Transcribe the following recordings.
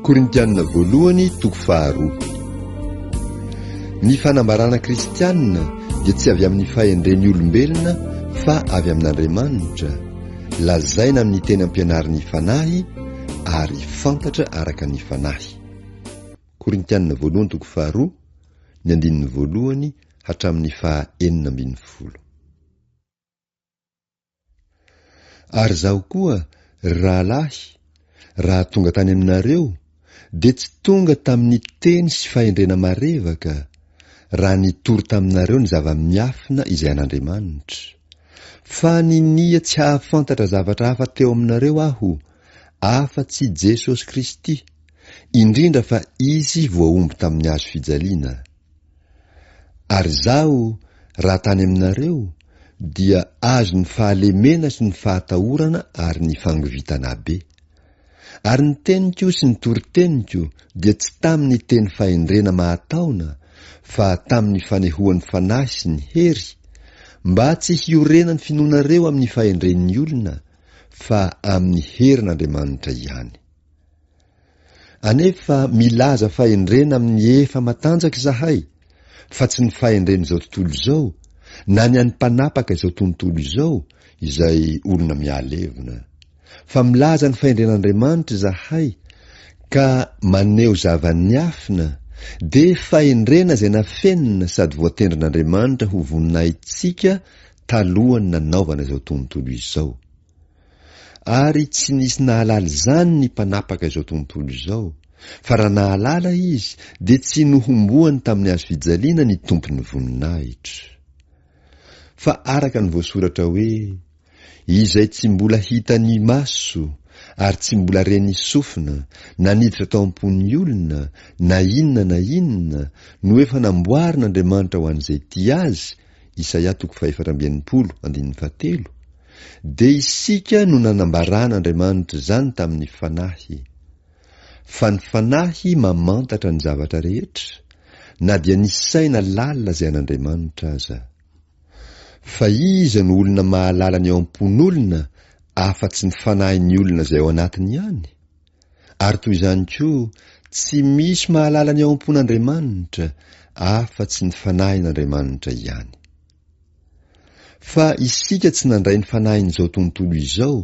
Korintianina Voalohany toko faharoa Ny fanambarana kristianina dia tsy avy amin'ny fahendren'ny olombelona fa avy amin'Andriamanitra, lazaina amin'ny teny ampianarin'ny Fanahy ary fantatra araka ny Fanahy. Korintianina Voalohany toko faharoa, ny andininy voalohany hatramin'ny faha enina ambin'ny folo. Ary izaho koa, ry rahalahy, raha tonga tany aminareo, dia tsy tonga tamin'ny teny sy fahendrena marevaka, raha nitory taminareo ny zava-miafina izay an'Andriamanitra. Fa ninia tsy hahafantatra zavatra hafa teo aminareo aho, afa-tsy Jesosy Kristy, indrindra fa Izy voahombo tamin'ny hazo fijaliana. Ary izaho, raha tany aminareo, dia azo ny fahalemena sy ny fahatahorana ary ny fangovitana be. Ary ny teniko sy ny toriteniko dia tsy tamin'ny teny fahendrena mahataona, fa tamin'ny fanehoan'ny Fanahy sy ny hery, mba tsy hiorenan'ny finoanareo amin'ny fahendren'ny olona, fa amin'ny herin'Andriamanitra ihany. Anefa milaza fahendrena amin'ny efa matanjaka izahay, fa tsy ny fahendren'izao tontolo izao, na ny an'ny mpanapaka izao tontolo izao, izay olona mihalevona. Fa milaza ny fahendren'Andriamanitra izahay, ka maneho zava-niafina, dia fahendrena izay nafenina sady voatendrin'Andriamanitra ho voninahitsika talohan'ny nanaovana izao tontolo izao. Ary tsy nisy nahalala izany ny mpanapaka izao tontolo izao, fa raha nahalala izy dia tsy nohomboany tamin'ny hazo fijaliana ny Tompon'ny voninahitra. Fa araka ny voasoratra hoe, Izay tsy mbola hitan'ny maso, ary tsy mbola ren'ny sofina, na niditra tao am-pon'ny olona, na inona na inona, no efa namboarin'Andriamanitra ho an'izay tia Azy, Isaia toko fahefatra amby enimpolo, andininy fahatelo, Dia isika no nanambaran' Andriamanitra izany tamin' ny Fanahy. Fa ny Fanahy mamantatra ny zavatra rehetra, na dia ny saina lalina izay an' Andriamanitra aza. Fa iza no olona mahalala ny ao am-pon' olona afa-tsy ny fanahin' ny olona izay ao anatiny ihany? Ary toy izany koa tsy misy mahalala ny ao am-pon' Andriamanitra afa-tsy ny Fanahin' Andriamanitra ihany. Fa isika tsy nandray ny fanahin'izao tontolo izao,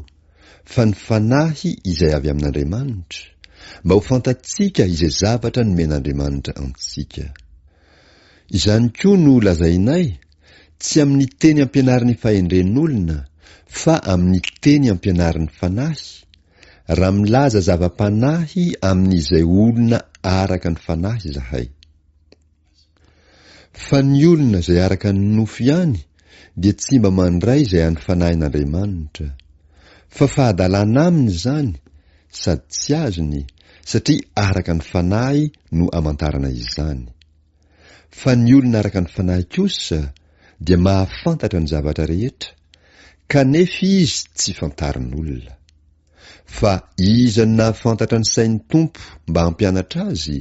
fa ny Fanahy izay avy amin'Andriamanitra, mba ho fantatsika izay zavatra nomen'Andriamanitra antsika. Izany koa no lazainay, tsy amin'ny teny ampianarin'ny fahendren'olona, fa amin'ny teny ampianarin'ny Fanahy, raha milaza zava-panahy amin'izay olona araka ny Fanahy izahay. Fa ny olona izay araka ny nofo ihany dia tsy mba mandray izay an'ny Fanahin'Andriamanitra. Fa fahadalana aminy izany, sady tsy azony, satria araka ny Fanahy no amantarana izany. Fa ny olona araka ny Fanahy kosa dia mahafantatra ny zavatra rehetra, kanefa izy tsy fantarin'olona. Fa iza no nahafantatra ny sain'ny Tompo mba hampianatra azy?